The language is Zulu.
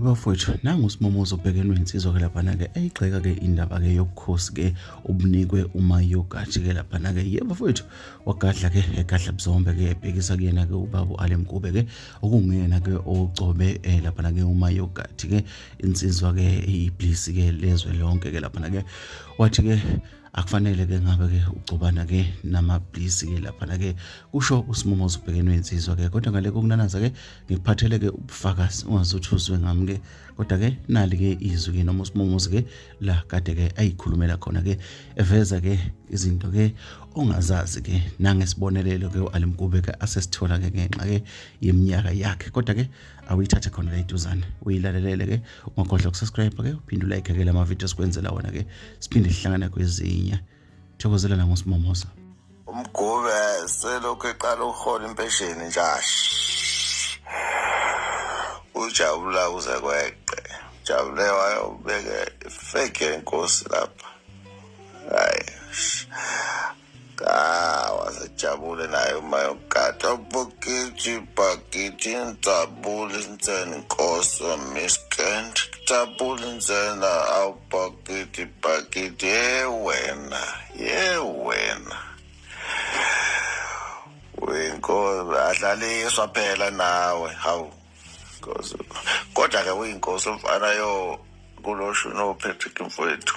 bafowethu nangu usimomoza obhekenwe insizwa-ke laphana-ke eyigxeka-ke indaba-ke yobukhosi-ke obunikwe umayogathi-ke laphana-ke ye bafowethu wagadla-ke egadla buzombe-ke ebhekisa kuyena-ke ubaba u-ale mkube-ke okunguyena-ke ocobe um eh, laphana-ke umayogathi-ke insizwa-ke iyiblisi-ke lezwe lonke-ke laphana-ke wathi-ke akufanele ke ngabe ke ugcobana ke namablisi ke lapha na ke kusho usimumo zibhekenwe insizwa ke kodwa ngale kokunanaza ke ngikuphathele ke ubufakazi ungazuthuzwe ngami ke kodwa ke nali ke izwi ke noma usimumo ke la kade ke ayikhulumela khona ke eveza ke izinto ke ongazazi ke nangesibonelelo ke uAlimkube ke asesithola ke ngenxa ke yeminyaka yakhe kodwa ke awuyithathe khona la iduzane uyilalelele ke ungakhohlwa ukusubscribe ke uphinde ulike ke lama video sikwenzela wona ke siphinde sihlangana kwezinye thokozela la ngosimomosa umgube selokhu eqala ukuhola impesheni njashi ujabula uze kweqe jabule wayobeke ifake yenkosi lapha hayi Ah, wasejabule naye uma yogada bokiti bakiti ngijabule inseni nkosi wamiskend ngijabule insena awubakiti bakiti ye wena ye wena uyinkosi adlaliswa phela nawe hawu kodwa-ke uyinkosi mfana yo kuloshuni ophethike mfowethu